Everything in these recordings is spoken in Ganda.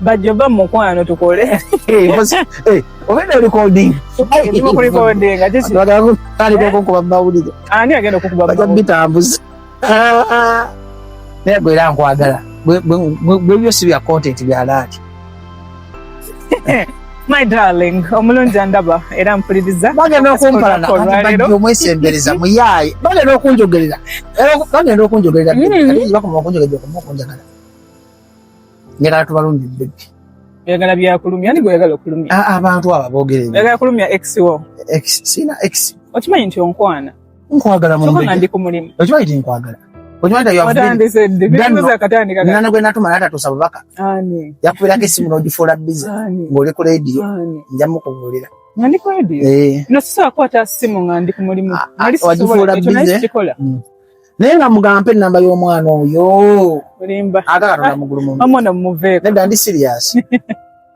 bajjoba mumukwano tukole obenda recordingkuba mumawulire ani agenda okukubaja bitambuza naye gwe era nkwagala bwe byosi bya content bya laati My darling, omulungi andaba era mpuliriza. Bagenda okumpalana bajja omwesembereza muyaaye. Bagenda okunjogerera. Bagenda okunjogerera. Mm-hmm. Bakoma okunjogerera okuma okunjagala. Njagala tubalungi bebbi. Oyagala byakulumya ni gweyagala okulumya. Ah, abantu abo bogerera. Oyagala kulumya ex wo. Ex sina ex. Okimanyi nti onkwana. nkwagala mu mbega ndi ku mulimu okiba iti nkwagala okiba ita yavu ndi sende bino za katani kaka nana gwe natuma nata to sababaka ani yakubira ke simu noji fola busy ngole ku radio njamu ko ngolira ngandi ku radio eh no sisa kwa ta simu ngandi ku mulimu ah, ah, ali sisa fola busy mm. naye nga mugampe namba y'omwana oyo olimba agala na mugulu mu amona muveko nenda ndi serious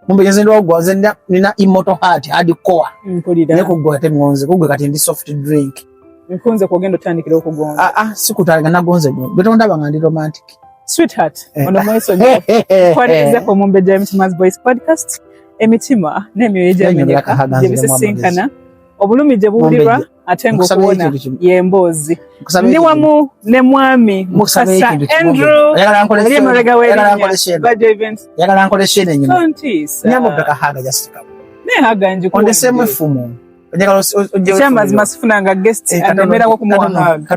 mumbe nze ndo gwa nze nina immortal heart hadi core mpulira ne kugwa te ngonze kugwe kati ndi soft drink nkunze kugenda tandikira okugonza ah ah sikutanga nagonze gwe betonda banga ndi romantic sweetheart eh. ono mweso kwa nze ko mumbe james mas boys podcast emitima ne myoyo jamu ne bisisinkana obulumi je buulirwa ate ngaokuwona yemboozi ndi wamu ne mwami mukasa andrew ali emabega weyagala nkolesa eno enyumahaga jasitikamu naye haga njikondesemu efumu ekyamazima sifunanga guest anemerako kumuwa haga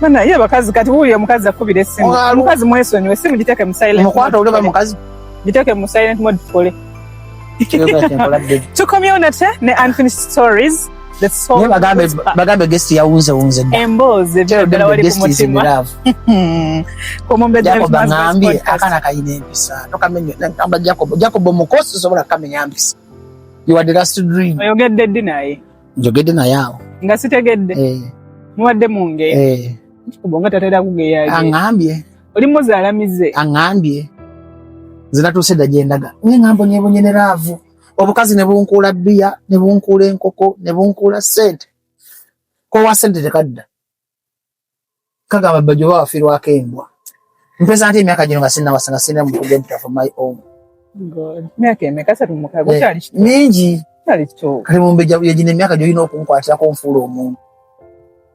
Bana ye bakazi kati wuyo mukazi akubira esimu. Mukazi mwesonyiwe esimu giteke mu silent. Mukwata ule ba mukazi. Giteke mu silent mode pole. tukomyewo nate ne unfinished stories bagambe guest yawunze wunze emboozi ddala wali ku mutima omumbejabangambye akana kayina empisa tokamenya jacob jacob omukosi sobola kamenya mpisa you are the last dream oyogedde ddi naye njogedde naye awo nga sitegedde eh. mubadde munge eh. kubonga tatera kugeyaye angambye oli muzaala mize aŋambye nze natuuse dda gye ndaga naye ŋambo nyebonye ne laavu obukazi ne bunkuula bbiya ne bunkuula enkoko ne bunkuula ssente kowa ssente tekadda kagamba bba gyoba wafirwako embwa mpeza nti emyaka gino nga sinnawasa nga sirina mukuga empita for my own myaka emeka satu mukaga eh, kyali mingi kati mumbejja yegino emyaka gyolina okunkwatira kunfuula omuntu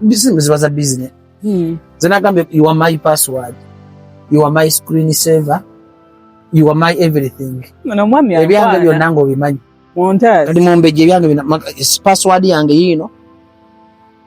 bizimu ziba za business hmm. zenagambye you are my password you are my screen saver you are my everything ebyange byonna nga obimanyi kati mumbejja ebyange password yange yiino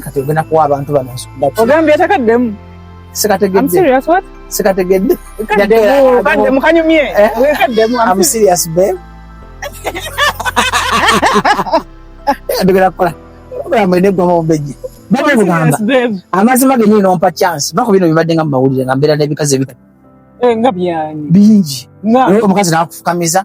kati ogenda kuwa abantu bano ogambye takaddemu sikategedde kaddemu kanyumye kaddemu am serious babe ndogera kukola programu ene gwa mawombeji baba mugamba amazima genyini nompa chance bako bino bibadde nga mumawulire nga mbeera n'ebikazi ebita eh, nga byanyi bingi omukazi nakufukamiza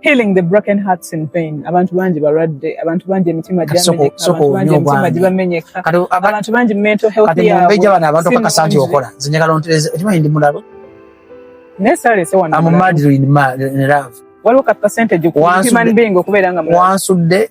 healing the broken hearts in pain abantu bangi balwadde abantu bangi emitima gibamenyeka abantu bangi mental health yabwe bano abantu kakasa nti okola nze njagala ontereze ekima ndi mulabo naye salese wano amumadiro in love waliwo ka percentage ku human being okubeera nga wansudde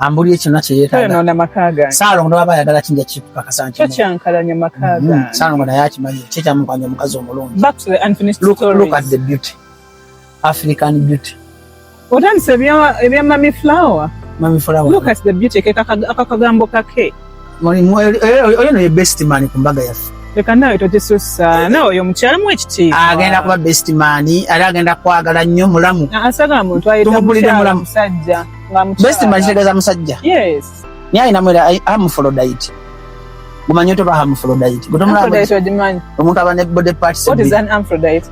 ambulire kyonna kye yeetaaga saalongo ne baba ayagala kinja kikukakasa nti kyankalanya maka mm-hmm. gange saalongo naye akimanyi kye kyamukwanya omukazi omulungi back to the unfinished look, stories look at the beauty african beauty otandise ebya mami flower mami flower look at the beauty kekakagambo kake oyo no ye best man ku mbaga yaffe leka nawe togisussa nawe oyo mukyala mu ekitiibwa agenda kuba best man era agenda kwagala nnyo mulamu asagala muntu ayitamukyala musajja best man kitegeeza musajja yes naye alinamu era amufolodaiti gumanyi oto bahamufrodite omuntu aba ne body parts amufrodite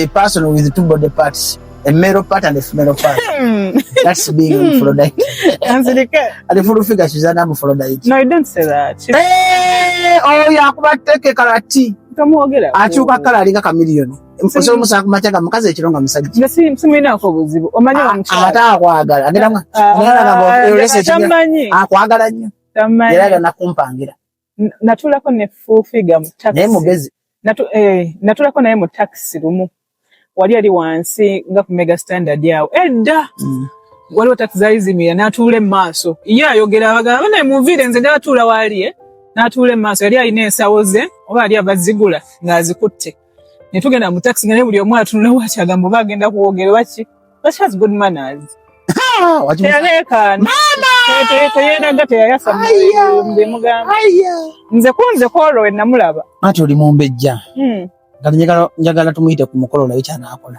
a person with two body parts a male part and a female part. Hmm. That's being hmm. Aphrodite. and the full figure she's an Aphrodite. No, you don't say that. She's... Hey, eh, oh, yeah, but take a karate. akyuka kala alinga kamiliyoni osobola omusanga ku makya ga mukazi ekiro nga musajja simulinako buzibu omanyi ate akwagala akwagala nnyo era gana kumpangira natulako ne full figure mu taxi naye mugezi natu eh natulako naye mu taxi lumu wali ali wansi nga ku mega standard yao edda mm. wali taxi zali zimira natule maso iya yogera baga bana muvire nze ndatula wali eh natule maso yali alina ensawo ze oba ali abazigula ngazikutte ne tugenda mu taxi nga ne buli omu atunula waki agamba oba agenda kuwogera waki but she has good manners teyeraga teyayasa mbemugamba nze kunze kwolwo we namulaba ati oli mumbejja hmm. nga njagala tumuyite ku mukolo naye kyanakola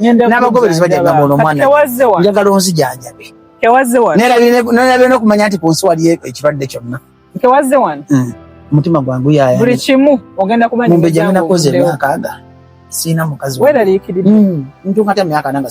n'abagoberezi bajja gamba ono omwana njagala onzijanjabe nerabye nokumanya nti ku nsi waliyo ekirwadde kyonna hmm. omutima gwangu yayamumbejamenakoze emyakaaga siina mukazi hmm. ntunkata emyaka nanga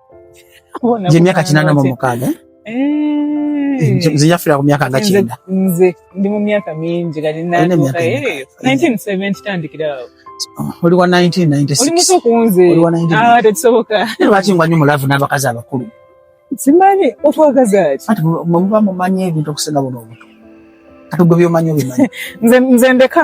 gye myaka kinana mu mukaaga eh? Eh. nze yafira ku myaka nga kyenda nze ndi mu myaka mingi kati natuuka 1970 tandikira awo oli wa 1996 oli muto kunze oli wa 19 ah tekisoboka lwaki ngwanyo mulavu n'abakazi abakulu simanyi otwagaza ki ati muba mumanyi ebintu okusinga buno obuto kati gwe byomanyi obimanyi nze ndeka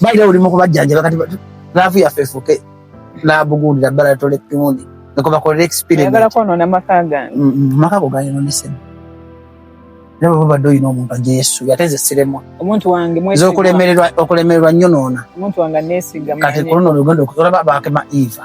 Baira oli mu kubajjanjaba kati laavu yaffe efuuke laabugundira bbala tola epimundi nga kwe bakolera experimentagala kwonoona maka gange mm, mm, maka go gayononesemu era bwe babadde olina omuntu ajja yesu ate nze siremwa omuntu wange nze okulemererwa okulemererwa nnyo noona omuntu wange aneesiga kati kuluno olugendo olaba baakema eva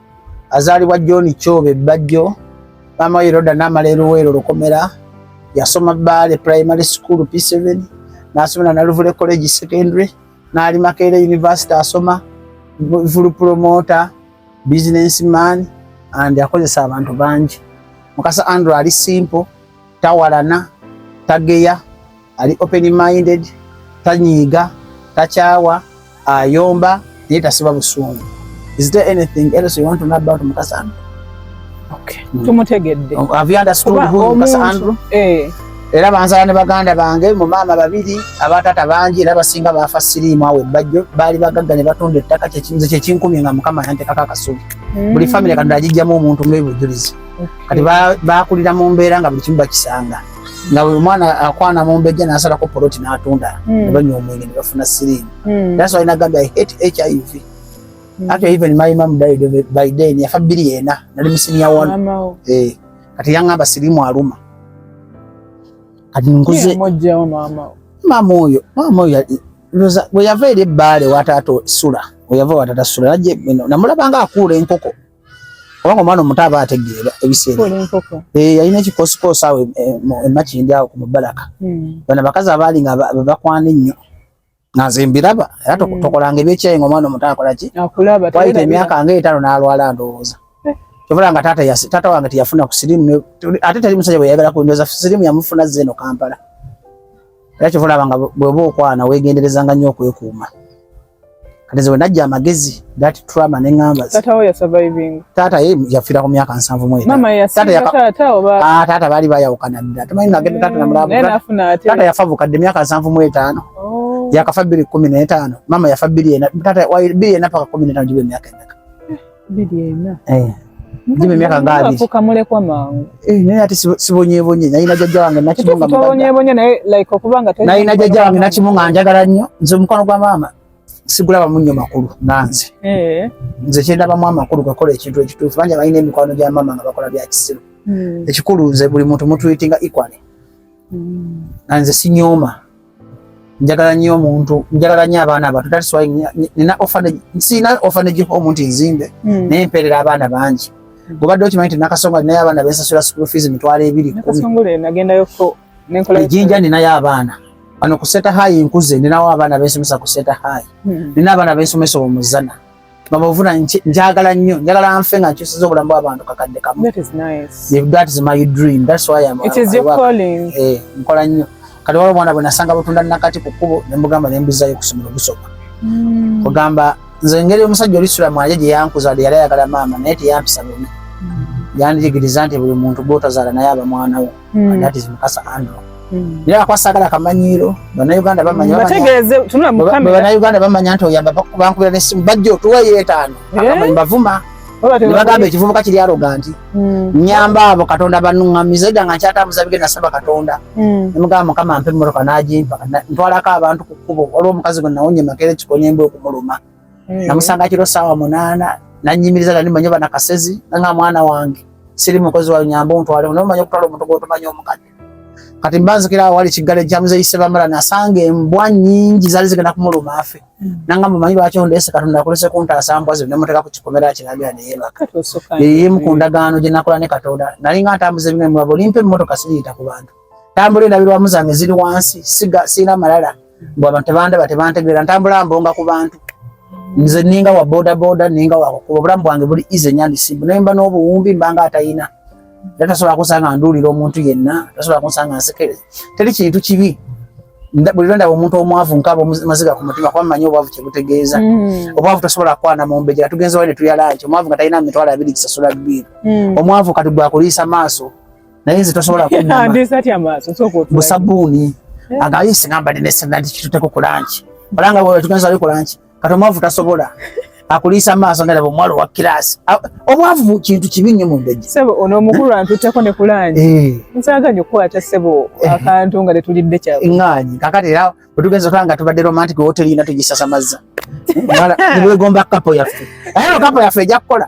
azaalibwa john kyoba ebbajjo maama we roda namala eruweero lukomera yasoma baale primary school p7 nasomera naluvule college secondary naali makeere university asoma vulu promoter business man and akozesa abantu bangi mukasa andrew ali simple tawalana tageya ali open minded tanyiiga takyawa ayomba naye tasiba busungu is there anything else you want to know about mukasa andrew okay mm. tumutegedde oh, have you understood who mukasa andrew eh era banzala ne baganda bange mu maama babiri abatata bangi era basinga baafa siriimu awo ebbajjo baali bagagga ne batunda ettaka nze kyekinkumye nga mukama yantekako akasubi mm. buli famire katonda agijjamu omuntu ngaebujulizi kati bakulira mu mbeera nga buli kimu bakisanga nga buli mwana akwana mu mbejja nasalako poloti natunda hmm. nebanywa omwenge nebafuna sirimu hmm. that's why nagambye i hate hiv hmm. actually even my mom died of it by then yafa bbiri yena nali musinia one eh kati yangamba sirimu aluma kati nkuze mama oyo mama oyo bwe yava eri ebbaale watata sula oyava watata sula namulabanga akuula enkoko kubanga omwana omuto aba ategeera ebiseera eh, yalina ekikosikoosi awo emakindi awo ku mubalaka hmm. bana bakazi abaali nga bakwana ennyo nga nze mbiraba era hmm. tokolanga ebyekyayi nga omwana omuto akolaki wayita emyaka nga etaano n'alwala ndowooza eh. kyobola nga taata wange teyafuna ku sirimu ate teri musajja bwe yayagala kundoza sirimu yamufuna zze eno kampala era kyobola nga bweba okwana wegenderezanga nnyo okwekuuma kati nze wenajja amagezi that trauma ne ngamba tata wo ya surviving tata ye yafira ku myaka nsanvu mwezi mama ya tata ya tata oba ah tata bali baya ukana dada tumanyi na genda tata na mulabu mm, tata ya favu kadde myaka nsanvu mwezi tano oh. ya kafabiri 15 mama ya fabiri ena tata wa biri ena paka 15 jibe myaka ena eh. Jimmy miaka ngapi? Afuka mule kwa mangu. Eh, naye ati sibonye bonye. Naye najaja wange nakimunga mbaga. Sibonye bonye naye like okubanga tayina. Naye najaja wange nakimunga njagala nnyo. Nze mukono gwa mama. Sigulaba munnyo makulu nanze. Eh. Nze kyendaba mu amakulu gakola ekintu ekituufu. Banja balina emikwano gya mama nga bakola bya kisiru. Hmm. Ekikulu nze buli muntu mutuyitinga equally. Hmm. Nanze sinyooma. njagala nnyo omuntu njagala nnyo abaana abato that's why nina orphanage nsina orphanage home nti nzimbe hmm. naye mpeerera abaana bangi gubadde okimanyi nti nakasongola ninayo abaana bensasula school fees emitwalo ebiri ejinja ninayo abaana ano kuseta hayi nkuze ninawo abaana bensomesa kuseta hayi hmm. nina abaana bensomesa omuzana mama ovuna njagala nnyo njagala nfe nga nkyusiza obulamu bw'abantu kakadde kamu that is my dream that's why I'm, it is your calling eh nkola nnyo kati waliwo omwana bwe nasanga butunda nakati ku kkubo ne mugamba ne mbizayo okusomera okusoma hmm. ogamba nze engeri omusajja oli sula mwanje gye yankuza yali ayagala maama naye teyampisa bubi hmm. yandigiriza nti buli muntu gwotazaala naye aba mwana wo mm. and that is mukasa andrew mm. naye akwasagala akamanyiiro banauganda bamanyabanauganda bamanya nti oyamba bankubira nesimu bajja otuweyo etaano eh? akamanyi bavuma nebagamba ekivubuka kiri aloga nti hmm. nyamba abo katonda banuŋamiza edda nga nkyatambuza bigenda saba katonda hmm. nemugamba mukama mpa emmotoka nagimpa ntwalako abantu ku kkubo waliwo omukazi gwe nawonye makeera ekikonya emba okumuluma mm. namusanga kiro saawa munaana nanyimiriza nali manyi bana kasezi nanga mwana wange siri mukozi wa nyamba ontwale no manyi okutwala omuntu gwotomanyi omukadde kati mbanzikira awo wali kiggale kya muzeeyi sebamala nasanga embwa nyingi zali zigenda kumuluma afe mm. nanga mumanyi lwaki ondeese katonda akolese kuntaasa mbwa zino nemuteeka ku kikomera kiragira neyebaka yeyimu ku ndagaano gye nakola ne katonda nalinga ntambuza ebintu limpa emmotoka siriyita ku bantu tambula endabirwamu zange ziri wansi siina malala mbu abantu tebandaba tebantegeera ntambula mbonga ku bantu nze ninga wa boda boda ninga wa kukuba obulamu bwange buli ize nyandisimbu naye mba n'obuwumbi mbanga atayina era tasobola kunsanga nduulira omuntu yenna tasobola kunsanga nsekereza teri kintu kibi buli lwe ndaba omuntu omwavu nkaaba maziga ku mutima kuba mmanyi obwavu kye butegeeza mm. obwavu tosobola kukwana mu mbejera tugenze wali ne tulya lanki omwavu nga talina mitwalo abiri kisasula bbiiru mm. omwavu kati gwakuliisa maaso naye nze tosobola kubusabuuni eh? agaye singamba ndinesena nti kituteko ku lanki olanga wetugenza ali ku lanki kati omwavu tasobola akuliisa maaso nga laba omuwala owa kiraasi obwavu kintu kibi nnyo mu mbejje sebo ono omukulu antutteko ne kulangi eh. nsaganya okukwata sebo eh. akantu nga tetulidde kya ŋŋaanyi kakati era bwe tugenza otwala nga tubadde romantic woteri yina tugisasamazza nibwegomba kapo yaffe aye no kapo yaffe ejja kukola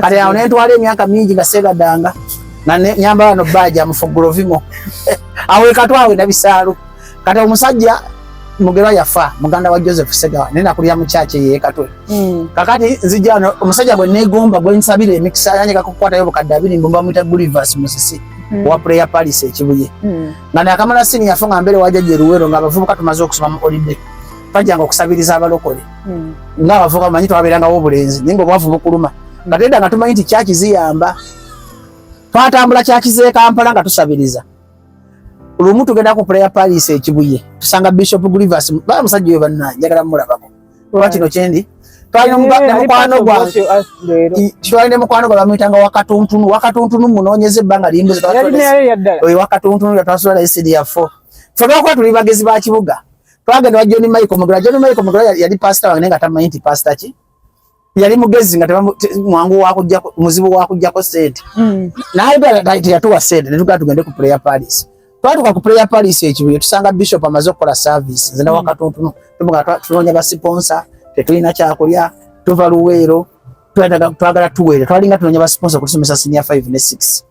kale awo nentwala emyaka mingi nga segadanga nga nyambala no baji amufugula ovimo awe katwawe na bisalu kati omusajja mugerwa yafa muganda wa joseph segawa naye nakulira mukyakye yekatwe hmm. kakati nzija no omusajja gwe negomba gwe nsabira emikisa yanye kakukwatayo bukadde abiri mbumba mwita gulivers musisi hmm. wa prayer paris ekibuye hmm. nga nakamala sini yafa nga mbere wajaja eruwero nga abavubuka tumaze okusoma mu holiday twajjanga okusabiriza abalokole hmm. nga abavuka manyi twabeerangawo obulenzi naye nga obwavu bukuluma nga tedda nga tumanyi nti kyaki ziyamba twatambula kyaki zekampala nga tusabiriza lumu tugenda ku prayer palace ekibuye tusanga bishop Grievous ba musajja oyo banna njagala mulabako oba kino kyendi twalina mukwano gwa twalina mukwano gwa bamuyitanga wakatuntunu wakatuntunu munoonyeza ebbanga limbuzi oyo wakatuntunu yatwasula naye sidi yafo ffe lwakuba tuli bagezi ba kibuga twagenda wa John Michael Mugula. John Michael Mugula yali pastor wange nga tamanyi nti pastor ki yali mugezi nga mwangu wakujja muzibu wakujjako sente hmm. naye teyatuwa sente netugenda tugende ku prayer palace twatuka ku prayer palace ekibuye tusanga bishop amaze okukola service nze nawa hmm. katontunu tubuga tunoonya basiponsa tetulina kyakulya tuva luweero twagala tuweere twalinga tunoonya basiponsa okutusomesa senior 5 ne 6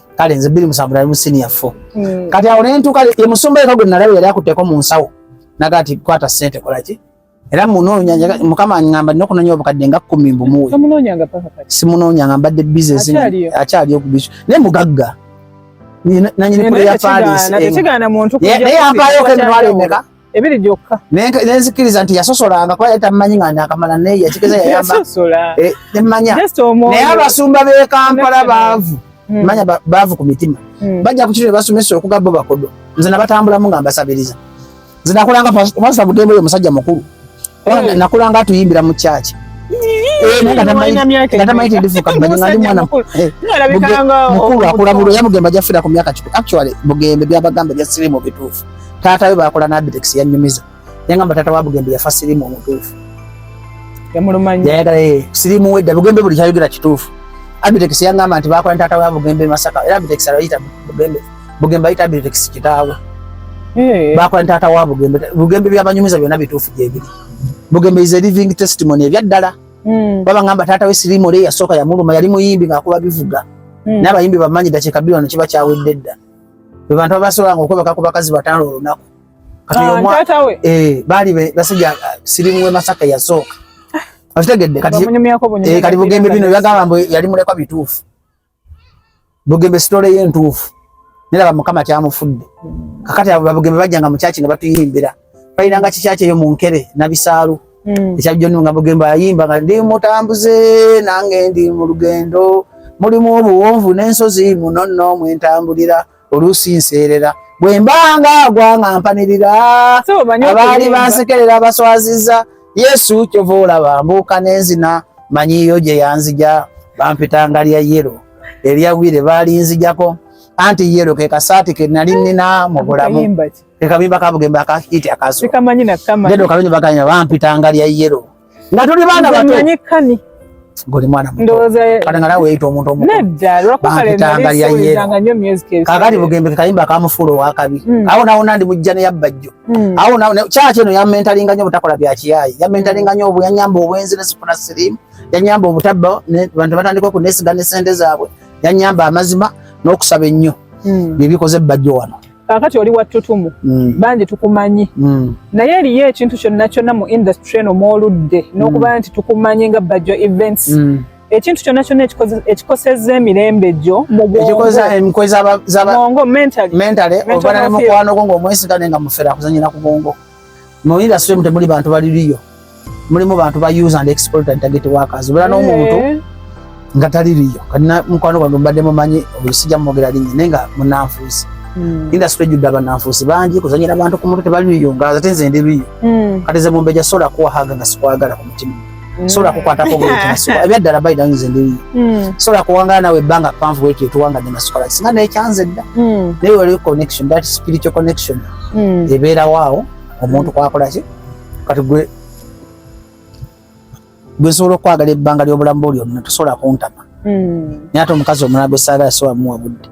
kale nze biri musanvu nali mu senior four mm. kati awo ne ntuuka ye musumba yeka gwe nalaba yali akutteko mu nsawo naga ati kwata sente kola ki era munoonya mukama angamba nina okunoonya obukadde nga kkumi mbumuwe simunoonya nga mbadde bizinesi akyaliyo ku bisu naye mugagga nanyini pule ya paris eh. naye yampaayo okemitwalo emeka ebiri gyokka nenzikiriza nti yasosolanga kuba yali tamumanyi nga nakamala naye yakigeza yayambamanya eh, naye abasumba b'e kampala baavu hmm. manya baavu ku mitima hmm. bajja ku kiro ne basomesa okuga bo bakodo nze nabatambulamu nga mbasabiriza nze nakolanga pasita bugembe oyo musajja mukulu Wana mm. nakula nga tuyimbira mu church. Eh, nga tamanyi tindifuka mmanyi nga ndi mwana eh, mukulu akula bulu era bugembe ajja fira ku myaka kikulu actually bugembe byabagamba ebya sirimu bituufu taata we bakola nabidex yanyumiza yangamba taata wa bugembe yafa sirimu omutuufu yayagala eh, sirimu wedda bugembe buli kyayogera kituufu abidex yangamba nti bakola ne taata wa bugembe masaka era abidex alayita bugembe Bugembe ayita Abirix kitaawe. Hey. Bakola taata wa Bugembe. Bugembe byabanyumiza byona bituufu gyebiri. Bugembe is a living testimony ebyaddala. Mm. Baba ngamba taata we Sirimu le yasooka yamuluma yali muyimbi ng'akuba bivuga. Mm. N'abayimbi bamanyi dakiika bbiri wano kiba kyawedde dda. Be bantu abasobolanga okwebaka ku bakazi bataano olunaku. Kati ah, omwa eh baali basajja Sirimu we Masaka yasooka. Ah. Akitegedde kati. Bamunyumyako bunyumya. Eh kati Bugembe bino byagamba mbu yali mulekwa bituufu. bugembe sitole ye ntuufu nera bamukama kyamufudde kakati abo babugembe bajjanga mu kyaki nga batuyimbira bayiranga kikyaki eyo mu nkere nabisaalu hmm. ekya joni nga bugembe ayimba nga ndi mutambuze nange ndi mu lugendo mulimu obuwonvu n'ensozi muno nno mwentambulira oluusi nseerera bwe mbanga agwa nga mpanirira abaali bansekerera baswaziza yesu kyova olaba mbuuka n'enzina manyiyo gye yanzija bampitanga lya yero eryagwire baalinzijako anti yero ke kasaati ke nali nina mu bulamu ke kabimba kabugembe akahiti akaso bampitanga lya yero nga tuli baana bato ngoli mwana mutokatangala weyita omuntu omukuakakati bugembeke kayimba kamufuula owakabi hmm. awo nawona ndi mujja neyabbajjo hmm. awo kyaki eno yamentalinga nyo obutakola byakiyayi yamentalinga nyo yanyamba obwenzi nesifuna sirimu yanyamba obutabba bantu batandika okunesiga nesente zaabwe yanyamba amazima n'okusaba ennyo hmm. byebikoze ebbajjo wano kakati oli wattutumu mm. bangi tukumanyi mm. naye eriyo ekintu kyonna kyonna mu industry eno mwoludde mm. n'okuba nti tukumanyi nga bajjo events mm. ekintu kyonna kyonna ekikoseza emirembe gyo mubwongomukwano gwo ngaomwesigane nga muferakuzanyira ku bwongo mu industry mute muli bantu bali liyo mulimu bantu ba use and exploit and target workers bula no muntu eh. nga tali liyo kana mukwano gwange mbadde mumanyi olusija mwogera linyi naye nga munanfuusi hmm. industry judde abananfuusi bangi kuzanyira bantu ku mutwe tebali liyo nga ate nze ndi liyo hmm. kati ze mumbeja sola kuwahaga nga sikwagala ku mutima Mm. sobola kukwatako bwekinasuka ebyaddala bayida nze ndi mm. sobola kuwangala nawe ebbanga panvu bwekyo tuwangadde nasukola singa naye kyanze dda mm. naye waliwo connection that spiritual connection ebeerawo awo omuntu kwakola ki kati gwe gwe nsobola okwagala ebbanga ly'obulamu bwo lyonna tosobola kuntama naye ate omukazi omulala gwe saagala siwamuwa budde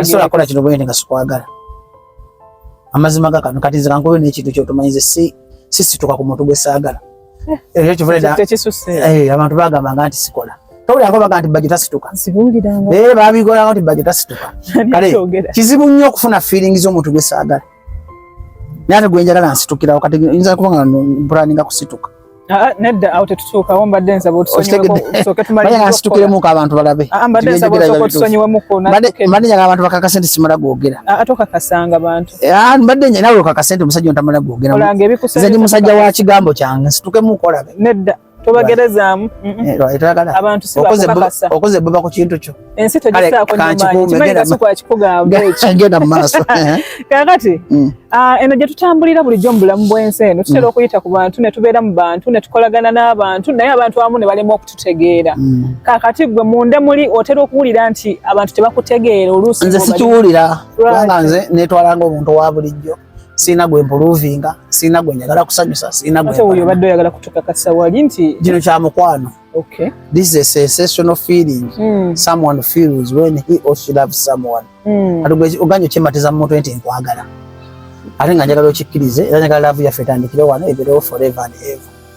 Asobola kola kino bwene nga sikwagala. Amazima ga kano kati zira nkoyo n'ekintu kyotumanyize si sisituka ku muntu gwe saagala. Eh, Ekyo kivule da. Eh, abantu bagamba nga nti sikola. Tawulira ko bagamba nti bajjo tasituka. Sibulira nga. Eh, babigora nti bajjo tasituka. Kale kizibu nnyo okufuna feelings omuntu gwe saagala. naye ate gwenjagala nsitukirawo kati yinza kuba nga mpulaninga kusituka ah, ah, nedda awo tetutuukawo mbadde nsaba otusonyiwemuko abantu balabe ah, mbadde njagala abantu bakakase nti simala gwogera eh, mbadde nawe okakase nti omusajja ontamala gwogera nze ndi musajja wa kigambo kyange nsitukemuko olabe nedda tobagerezaamu abantuokoze buba ku kintu kyo ensi togisaakonagenda mumaaso kakati mm. ah, eno gyetutambulira bulijjo mu bulamu bwensi eno tutera mm. okuyita ku bantu netubeera mu bantu netukolagana n'abantu naye abantu abamu ne balema okututegeera mm. kakati gwe munda muli otera okuwulira nti abantu tebakutegeera oluusi nze sikiwulira kubanga nze netwalanga omuntu wa bulijjo sirina gwe mpuluvinga sirina gwe njagala kusanyusa sirina gwe oyo obadde oyagala kutukakasa wali nti gino kya mukwano okay this is a sensational feeling mm. someone feels when he or she loves someone mm. kati oganye okyematiza mu mutwe nti nkwagala ate nga njagala okikkirize era njagala laavu yaffe etandikire wano eberewo forever and ever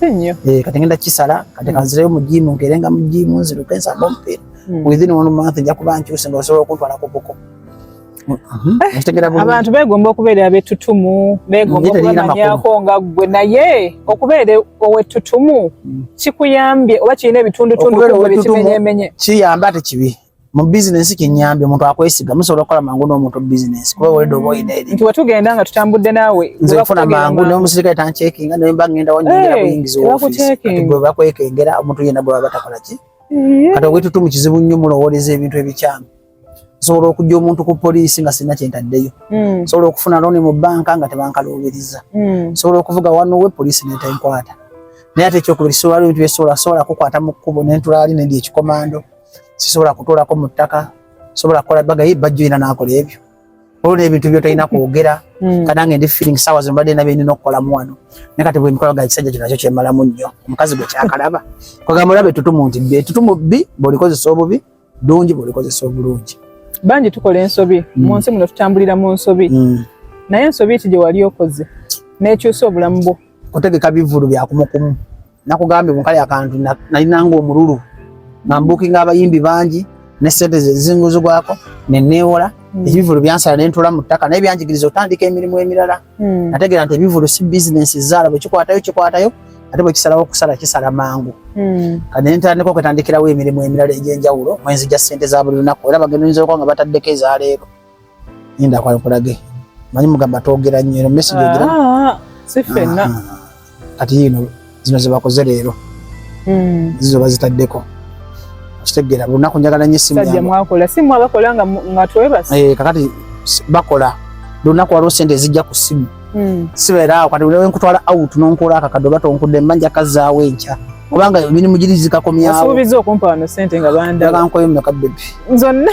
Eh, kati ngenda kisala kati kanzireyo mu jimu nkerenga mu jimu nziruke nsamba omupiira hmm. within one month nja kuba nkyuse nga osobola okuntwala ku buko hmm. eh, abantu begomba okubeera abetutumu begomba okubamanyako nga ggwe naye okubeera owetutumu hmm. kikuyambye oba kirina ebitundutundu kimenyemenye kiyamba ate kibi mu bizinensi kinyambye omuntu akwesiga musobola okukola mangu n'omuntu bizinensi kuba weledo oba olina eri nti wetugenda nga tutambudde naawe nze nfuna mangu naye omusirikale tancekinga naye mba ngenda wanyingira buyingizi wofiisi kati gwe bakwekengera omuntu yena gwe baba takola ki kati owetutu mu kizibu nnyo mulowooleza ebintu ebikyamu nsobola okujja omuntu ku poliisi nga sirina kyentaddeyo hmm. nsobola okufuna looni mu bbanka nga tebankaluubiriza hmm. nsobola okuvuga wanowe poliisi netenkwata naye ate ekyokubiri sobola bintu byesobola sobola kukwata mu kkubo nentulaali nendi ekikomando sisobola kutuulako mu ttaka sobola kukola baga ye bajjo yina nakola ebyo olwo n'ebintu byotolina kwogera hmm. kanange ndi feeling sawa zino mbadde nabye nina okukolamu wano naye kati bwemikola ga ekisajja kino nakyo kyemalamu nnyo omukazi gwe kyakalaba kwagamba olaba etutumu nti bbi etutumu bbi bwolikozesa obubi dungi bwolikozesa obulungi bangi tukola ensobi hmm. mu nsi muno tutambulira mu nsobi hmm. naye ensobi ti gye wali okoze n'ekyusa obulamu bwo kutegeka bivulu bya kumukumu nakugambye munkali akantu nalinanga omululu nga mbukinga abayimbi bangi ne sente zezinguzibwako nenewola hmm. ebivulu byansala nentula mu ttaka naye byanjigiriza otandika emirimu emirala hmm. nategera nti ebivulu si bizinensi zaala bwekikwatayo kikwatayo ate bwekisalawo okusala kisala mangu hmm. kati nentandika okwetandikirawo emirimu emirala egyenjawulo mwenzija sente za buli lunaku era bagenda oyinza okuba nga bataddeko ezaleero Ninda kwa nkulage. Manyi mugamba togera nnyo eno message ogira. Ah, si fenna. Kati yino zino ze bakoze leero. Mm. Zizo bazitaddeko. Kitegera lunaku njagala nnyo essimu yange. Sajja mwakola simu abakola nga nga twebase. Eh kakati bakola lunaku waliwo sente ezijja ku simu. Mm. Sibeera awo kati wewe nkutwala out n'onkola akakado bato onkudde mbanja kazaawo enkya. Kubanga emirimu girizika komyawo. Asuubizza okumpa wano sente nga banda. Ndaga nkoyo mmeka bbebi. Zonna.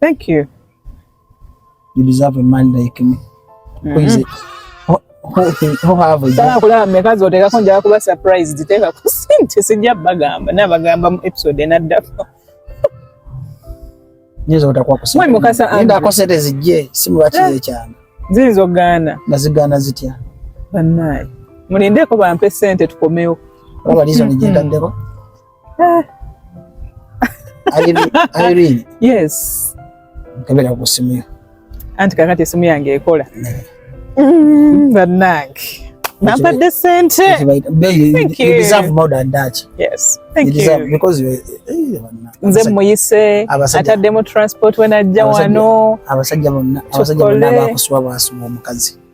Thank you. You deserve a man like me. Mm-hmm. Who is it? Who, who, who have a Sala kulaba meka z'oteekako njala kuba surprise ziteeka ku sente sijja bagamba nabagamba mu episode enaddako. Nyiza otakwa kusente. Mwe mukasa andi. Enda akosete zijje simu lwaki eh. zekyanga. Ziyinza okugaana. Nga zigaana zitya? Bannaaye. Mulindeeko bampe sente tukomewo. Oba lizo nigyendaddeko. Eh. Irene. Yes. Kabera kusimia. Anti kakati esimu yange ekola. Mm, banange. Nampa the sente. Thank you. You deserve more than that. Yes. Thank you. Deserve, you. Because you eh, nze muyise ataddemu transport wenajja wano abasajja bonna abasajja bonna bakuswa bwasuma omukazi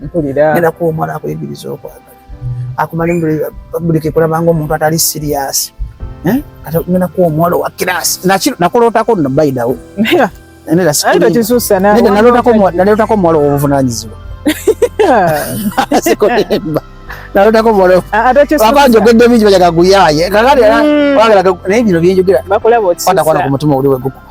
mpulira ngenda kuwa omuwala akuyigiriza okwagala akumale buli kekulabanga omuntu atali siriyasi eh? kati ngenda kuwa omuwala owa kirasi nakulootako no baidawo nalootako omuwala owobuvunanyizibwa sikolemba nalotako molo waba njogedde bingi bajaga guyaye kakati mm. wagala naye bino byenjogera kwatakwata ku mutima oli wegukuba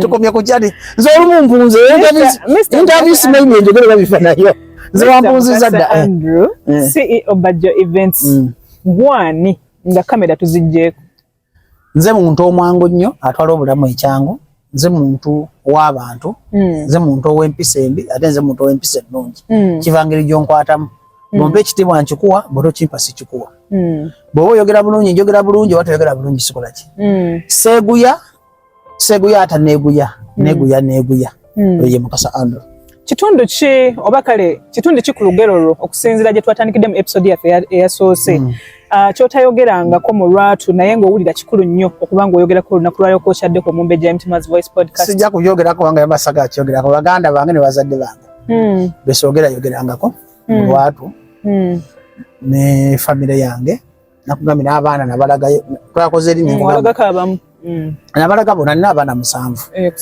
tukomye ku kyati nze olumu mpunze interviews maybe enjogere babifa nayo nze wampunziza dda eh. Andrew eh. CEO Bajjo Events mm. gwani nga kamera tuzijjeeko nze muntu omwangu nnyo atwala obulamu ekyangu nze muntu w'abantu hmm. nze muntu ow'empisa embi ate nze muntu ow'empisa ennungi hmm. kiva ngeri gyonkwatamu hmm. bwompa ekitiibwa nkikuwa bwetokimpa sikikuwa bwoba oyogera bulungi njogera bulungi oba toyogera bulungi sikolaki seeguya Seguya ata neguya hmm. neguya neguya hmm. oye mukasa ando kitundu ki oba kale kitundu ki ku lugero lwo okusinzira gye twatandikidde mu episode yaffe eyasoose hmm. ah, kyotayogerangako mu lwatu naye ng'owulira kikulu nnyo okuba ng'oyogerako olunaku lwaliro kwokyaddeku omumbejja mtmas voice podcast sijja kuyogerako kubanga yamasaga akyogerako baganda bange ne bazadde bange besoogera yogerangako mu lwatu ne famire yange nakugambye n'abaana nabalagayo twakoze eri mm, mm. nabalaga bona nina abaana musanvu eh,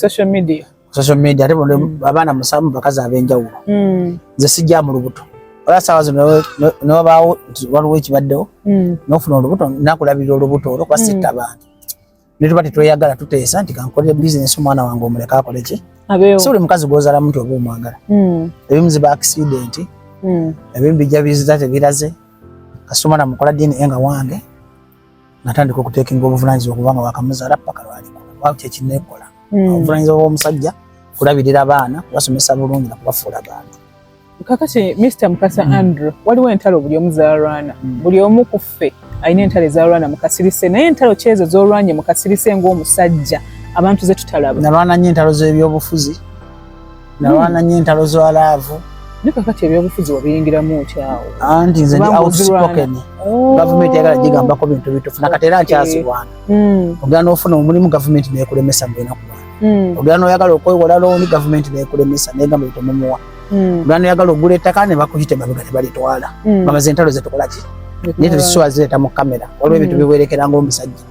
social media ate bona mm. abaana musanvu bakazi ab'enjawulo nze sijja mu lubuto ola saawa zino newabaawo nti waliwo ekibaddewo nofuna olubuto nakulabirira olubuto olwo kuba sitta abantu ne tuba tetweyagala tuteesa nti kankolere bizinesi omwana wange omuleka akole ki si buli mukazi gwozalamu nti oba omwagala hmm. ebimu ziba akisidenti hmm. ebimu bijja bizita tebiraze kasita omwana mukola dna nga wange natandika okutekinga obuvunanyizibwa kubanga wakamuzaala paka lwalikula kyekinekola hmm. obuvunanyizibwa bwomusajja kulabirira baana kubasomesa bulungi nakubafuula bantu kakati Mr Mukasa mm. Andrew waliwo entalo buli omu zalwana mm. buli omu ku ffe alina entalo ezalwana mukasirise naye entalo kyezo zolwanye mukasirise ngaomusajja abantu zetutalaba nalwana nyo entalo zebyobufuzi nalwana nyo entalo za laavu naye kakati ebyobufuzi wabiyingiramu otyawo anti nze ndi outspoken oh. gavumenti yagala gigambako bintu bitufu nakati era nkyazirwana mm. ogenda ofuna omulimu gavumenti nekulemesa mbenaku hmm. ogera noyagala okwewola looni gavumenti nekulemesa negamba bitemumuwa hmm. ogera noyagala ogula ettaka nebakuyita emabega nebalitwala hmm. bamaze entalo zetukolaki naye tuzisuwa zireeta mu kamera waliwo ebintu biwerekera ngaomusajja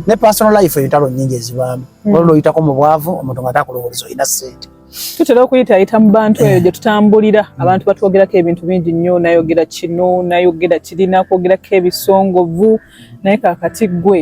ne personal life entalo nyingi ezibaamu waliwo loyitako mu bwavu omuntu nga takulowoleza olina sente tutera okuyitayita mu bantu eyo eh. gye tutambulira hmm. abantu batwogerako ebintu bingi nnyo nayogera kino nayogera kirina kwogerako ebisongovu naye kakati gwe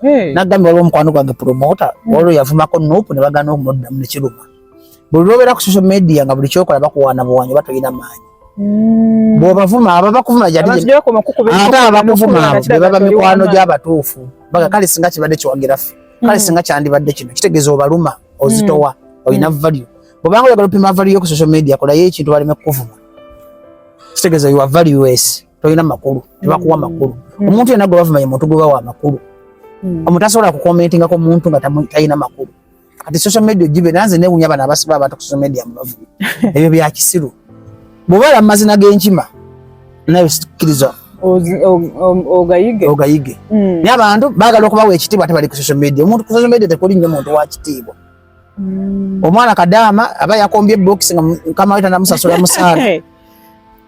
hey. nagambye waliwo omukwano gwange promota mm. waliwo yavumako nup ne bagana okumuddamu nekiruma buli lwobeera ku social media nga buli kyokola bakuwaana buwanyi oba tolina maanyi mm. bwobavuma aba bakuvuma ate abakuvuma abo bebaba mikwano gy'abatuufu baga kale singa kibadde kiwagira ffe kale mm. singa kyandibadde kino kitegeeza obaluma ozitowa olina value bwobanga oyagala opima value yo ku social media kolayo ekintu baleme kukuvuma kitegeeza you are valueless tolina makulu tebakuwa makulu mm. omuntu yena gwe bavuma ye muntu gwe bawa amakulu mm. omuntu asobola kukomentinga ko muntu nga talina makulu kati social media ogibe nanze newunya bana abasiba abantu ku social media mubavuma ebyo bya kisiru bwobala mu mazina g'enkima nayo sikiriza ogayige ogayige mm. naye abantu baagala okubawa ekitiibwa ate bali ku social media omuntu ku social media tekuli nnyo muntu wa kitiibwa omwana kadaama aba yakombye box nga mukama we tanamusasula musaala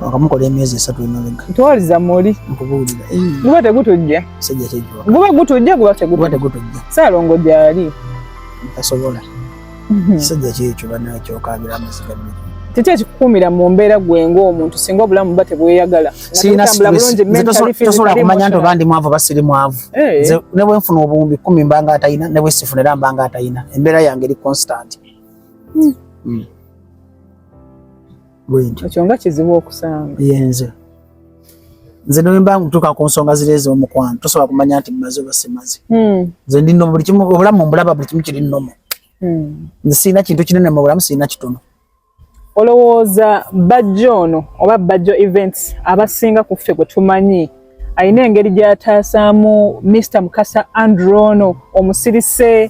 wakamukola emyezi esatu emabega ntwaliza muli nkubuulira guba tegutujja sijja kijwa guba gutujja guba tegutujja tegutujja saalongo gyali tasobola mhm. kisajja kyekyo banakyokabira amaziga bbiri kiki ekikukuumira mu mbeera gwe ng'omuntu singa obulamu buba tebweyagala tosobola kumanya nti oba ndi mwavu oba siri mwavu eh. ne bwe nfuna obuwumbi kumi mbanga atalina ne bwe sifuna era mbanga atalina embeera yange eri constant hmm. Hmm. bwentyo ekyo nga kizibu okusanga yenze nze newemba ntuka ku nsonga ziri ez'omukwano tosobola kumanya nti maze oba simaze hmm. nze ndi nomu buli kimu obulamu mbulaba buli kimu kiri nomu hmm. nze sirina kintu kinene mu bulamu sirina kitono olowooza bajjo ono oba bajjo events abasinga ku ffe gwe tumanyi alina engeri gyeyataasaamu Mister Mukasa Andrew ono omusirise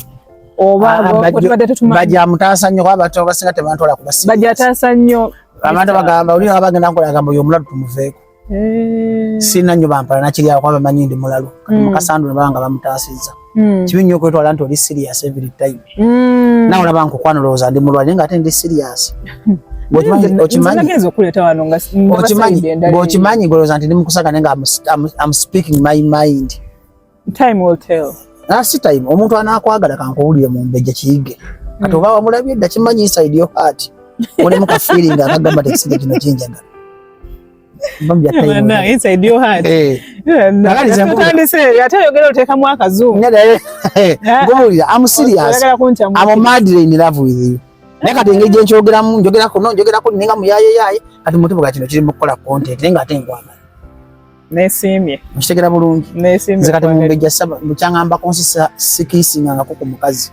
bajamutaasa nnyo kuba abantu abasinga tebantwala kubasibajataasa nnyo abantu bagamba oli nga bagenda nkola gamba oyo omulalu tumuveeko eh. sirina nnyo bampala nakiryawo kuba bamanyi ndi mulalu kati mm. mukasandula baba nga bamutaasizza mm. kibi nnyo okwetwala nti oli serious every time mm. nawe olaba nkukwana olowooza ndi mulwale nga ate ndi serious okimanyi golowooza nti ndi mukusaga naye nga am speaking my mind time will tell nasi ah, time omuntu anakwagala kankuwulire mu mbejja kiyige hmm. kati oba wamulabye dda kimanyi inside your heart olemu ka feeling akagamba tekisige kino kinjagala atayogera otekamu akazunguwulira amusiriasmumadlnlvwithyou naye kati engeri gyenkyogeramu njogerako no njogerako ninga muyayeyaye kati mutubuga kino kiri mukukola content naye nga ate nkwagala nesiimye nkitegera bulungi nze kati mumbejja saba mukyangambako nsi sikiisingangako ku mukazi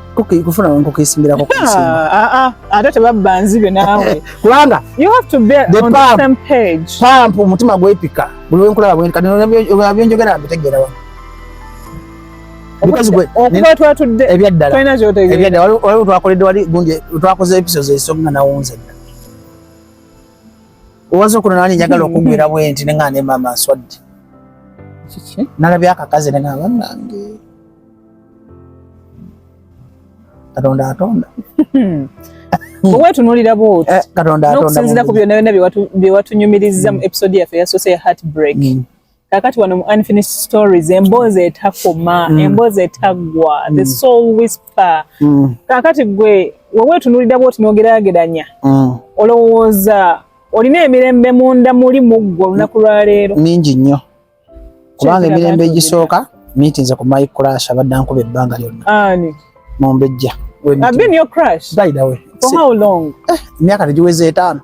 kufuna nkoko esimbirako ah, ah, ah. ate tebabba nzibe naawe kubanga pampu omutima gwepika buli wenkulaba byonjogera mbitegeera wa ebyaddalaebyaddalalwaliwo twakoledde wali gundi twakoze episodes esonga nawunze dda owaza okuno nani njagala okugwira bwenti neŋaa ne maama nswadde nalabye akakazi neŋaa banange katonda atonda hmm. owetunulira bwoti eh, nokusinzira ku byonna byonna byewatunyumiriza mu hmm. episode yaffe yasoose ya heart break hmm. kakati wano mu unfinished stories emboozi etakoma emboozi etaggwa the soul whisper kakati gwe wewetunulira bwoti nogerageranya olowooza olina emirembe munda muli muggwe olunaku lwaleero mingi nnyo kubanga emirembe egisooka miitinze ku my crash abadde ankuba ebbanga lyonna mumbejja emyaka tegiweza etaano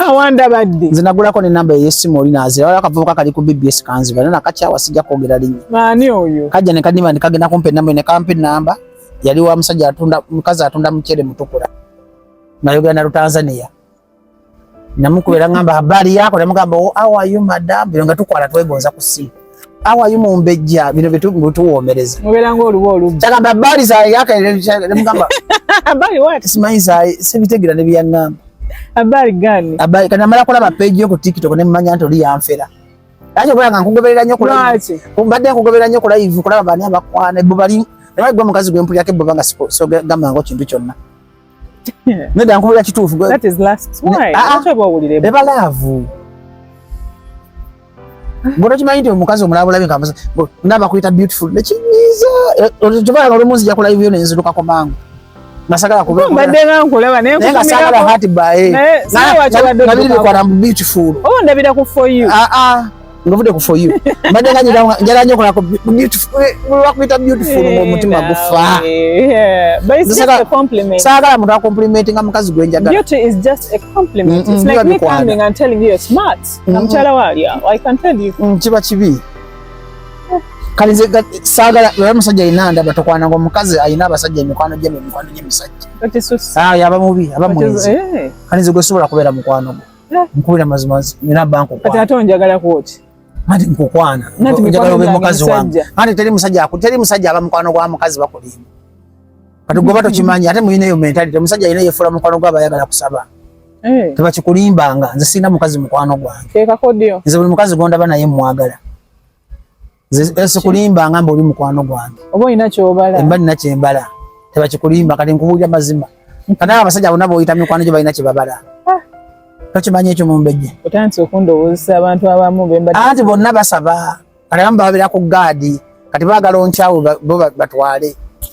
awandabadde nze nagulako nenamba eyesimu oli nazira wala akavubuka kali ku bbs kanziba nana kakyawa sijja kwogera linnya maani oyo kajja nekadima nekagenda kumpa enamba nekampa enamba yali wa musajja atunda mukazi atunda mucere mutukula nayogera na lutanzania namukubera ngamba habari yako namugamba oh, how are you madam bino nga tukwala twegonza ku simu how are you mumbejja bino bituwomereza muberanga oluba oluba kyagamba habari za yaka namugamba habari what simanyi za sibitegera ne byangamba habari gani habari kana mara kulaba page yo ku tiktok ne manya nto li yanfera aje kwa nga nkugoberera nyo kula kumbadde nkugoberera nyo kula ivu kulaba bani abakwana bo bali ne bagwa mukazi gwe mpulira ke bo banga so gamba ngo kintu kyonna Neda nkubira kituufu. That is last. Why? Ah, ah. Acha bawulire. Eba love. Ngono kimanyi nti omukazi omulabula binga amaze. Ndaba kuyita beautiful. Nekinyiza. Eh, Otuba ngalo munzi yakula hivyo nenzi luka kwa mangu. Nasagala kuba. Mbadde nga nkulaba naye kuba. Nasagala hati bae. Naye sawa kya wadde. Nabiri kwa na beautiful. Oh ndabira ku for you. Ah ah. ngavudde ku for you mbadde nga njala nyo kolako lwakuyita beautiful omutima gufa saagala muntu akomplimenti nga mukazi gwe njagalakiba kibi saagala era musajja alina ndaba tokwana nga omukazi alina abasajja emikwano gye emikwano gyemisajja ah, aba mubi aba mwenzi eh. kalinze gwesobola kubeera mukwano gwe eh. nkubira mazima nina banko kwa tata onjagala kuochi mati nkukwana njagala obe mukazi wange ate teri musajja aku teri musajja aba mukwano gwa mukazi bakulimba kati goba mm-hmm. tokimanyi ate muyina eyo mentality musajja yina yefula mukwano gwa bayagala kusaba eh. tebakikulimbanga nze sirina mukazi mukwano gwange nze buli mukazi gondaba naye mwagala sikulimba ngamba oli mukwano gwange oba olina kyobala emba nina kyembala tebakikulimba kati nkubuulira mazima kana abasajja bona boyita mikwano gyo balina kyebabala ah. tokimanya ekyo mumbejje otandise okundowoozesa abantu abamu anti bonna basaba kati abamu bababira ku gaadi kati baagala onkyawo bo batwale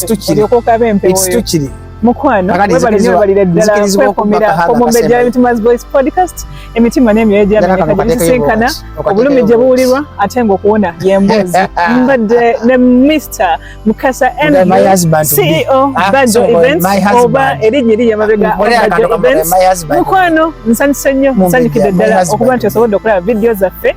situkiri mukwano webalire ddala kwekomera omumbejja emitima's voice podcast emitima n'emyoyo gyamenyekagisinkana obulumi gye buwulirwa ate nga okuwona yembuzi mbadde ne mr mukasa ceo ah, bajo events oba erinnya eri yamabega bajo events mukwano nsanyuse nnyo nsanyukidde ddala okuba nti osobodde okulaba vidiyo zaffe